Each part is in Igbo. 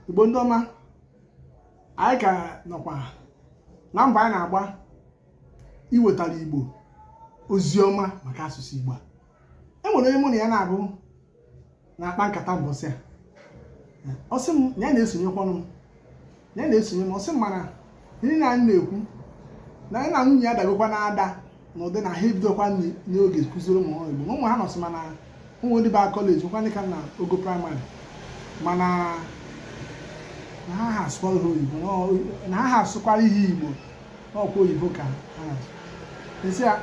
igbo ndị ọma anyị ka nọkwa na mbọ anyị na-agba iwetara igbo ozi ọma maka asụsụ igbo a e nwere onye mụ na ya naabọ na-akpa nkata mbọsị a ọ sị m na ya na-esonyekwanụ m na ya na-esonye m ọ sị m mana ihe na anyị na-ekwu na ya na nwunye ya dabekwa na ada na ụdị na ha ebidokwarọ n'oge kụziri ụmụ ha igbo na ụmụ ha nọsị mana e nwe ndị baa kọleji nwekwa ndị ka nọ ogo praịmarị mana na ha ha asụkwara ha oyibo na ọ- na ha ha asụkwarọ ihe igbo na ọkwa oyibo ka ha na-asụ m sị ya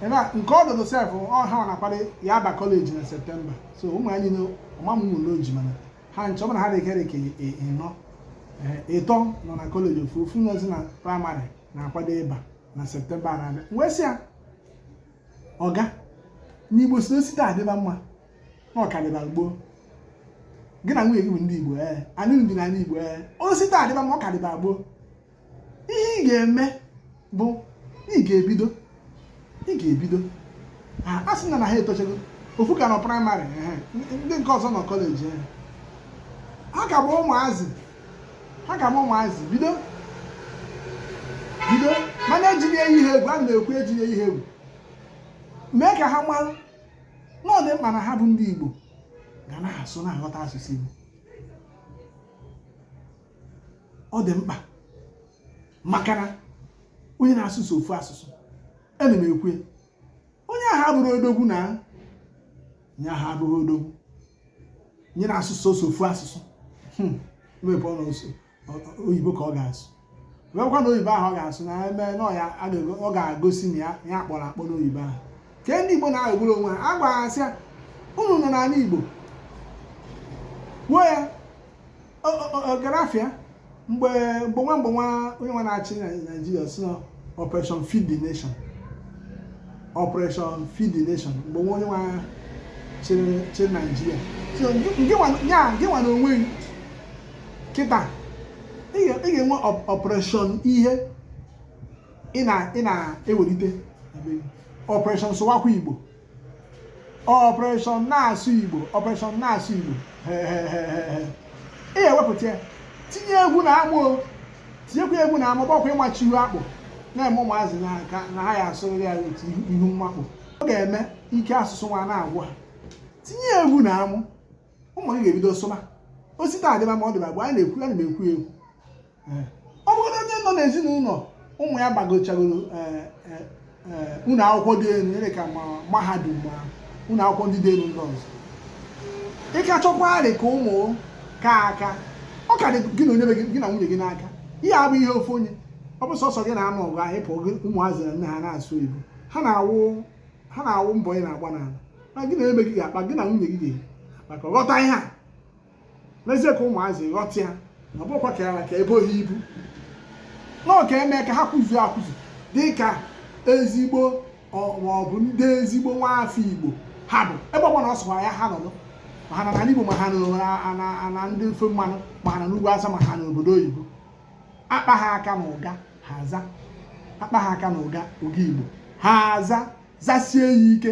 ebe a nke ọdụdụ sef ọ ha na-akwado ya aba kọleji na septemba so ụmụ ya niile ọma m nwụrụ oji mana ha ncha ọbụna ha dịkịrị ka ịnọ ịtọ nọ na kọleji ofu ofu nọzi na praịmarị na-akwado ịba na septemba na-abịa wee sị ya ọga na igbo sị o si taa dịba mma na ọ ka dịba gboo gị na nwunye gị bụ ndị igbo ee anyị dị n'ala igbo ee o si taa dịba mma ọ ka dịba gboo ihe ị ga-eme bụ ị ga-ebido ị ga-ebido a sị na na ha etochago ofu ka nọ praịmarị ndị nke ọzọ nọ kọleji ha ka bụ ụmụazị ha ka bụ ụmụazị bido bido mana ejiri eyi ha egwu a na-ekwu ejiri eyi ha egwu mee ka ha mara na ọ dị mkpa na ha bụ ndị Igbo ga na-asụ na-aghọta asụsụ Igbo ọ dị mkpa maka na onye na-asụ sọ ofu asụsụ ana m ekwu onye ahụ abụrọ odogwu na onye ahụ abụrọ odogwu onye na-asụ sọsọ ofu asụsụ hmm. maybe ọ na-asụ oyibo ka ọ ga-asụ wekwa na oyibo ahụ ọ ga-asụ na eme na ọ ga-agosi na ya kpọrọ akpọ n'oyibo ahụ ka ndị igbo na-aghọgburu onwe ha a gwara asị ya unu nọ n'ala igbo wuo ya ọgarafịa mgbe mgbe nwa mgbe nwa onye nwa na-achị na naijiria sị na operation feed the nation operation feed the nation mgbe nwa onye nwa chịrị chịrị naijiria so ngị- ngị nwa- ya ngị nwa na onwe gị kịta ị ga- ị ga-enwe op- operation ihe ị na- ị na-ewelite na be gị. operation sụwakwa igbo operation na-asụ igbo operation na-asụ igbo ị ya-ewepụta ya tinye egwu na amụ tinyekwa egwu na amụ maka ịmachi ihu akpụ na-eme ụmụazị na nka na ha ya asụrịrị ya otu ihu mmakpụ ọ ga-eme ike asụsụ nwa na-agwụ ha tinye egwu na amụ ụmụ gị ga-ebido sụba o si taa dịba mma ọ dịba gboo anyị na-ekwu ya na ekwu egwu ọ bụrụ onye nọ n'ezinụlọ ụmụ ya gbagochagoro eh, eh, eh, ụlọ akwụkwọ dị elu dị ka ma mahadum ma ụlọ akwụkwọ ndị dị elu ndị ọzọ ị ka chọkwarị ka ụmụ ka aka ọ ka dị gị na onye gị na nwunye gị n'aka ihe a abụ ihe ofu onye ọ bụ sọsọ gị na-anụ ọgụ ahụ ị pụọ ụmụazị na nne ha na-asụ Igbo ha na-awụ ha na-awụ mbọ ị na-agba n'ala na gị na ebe gị ga-akpa gị na nwunye gị ga-akpa ka ghọta ihe a mezie ka ụmụazị ghọta ya na ọ bụkwa ka ya ka ebe ohi ibu na ọ ga-eme ka ha kwụzuo akwụzu dị ka ezigbo maọbụ ndị ezigbo nwaafọ igbo ha bụ ebe ọbụna ọ sọkwara ya ha nọdụ ma ha nọ n'ala igbo ma ha na ndị ofe mmanụ ma ha nọ n'ugwu awụsa ma ha nọ n'obodo oyibo a kpa ha aka na ụga ha aza a kpa ha aka na ụga ụga igbo ha aza zasie ya ike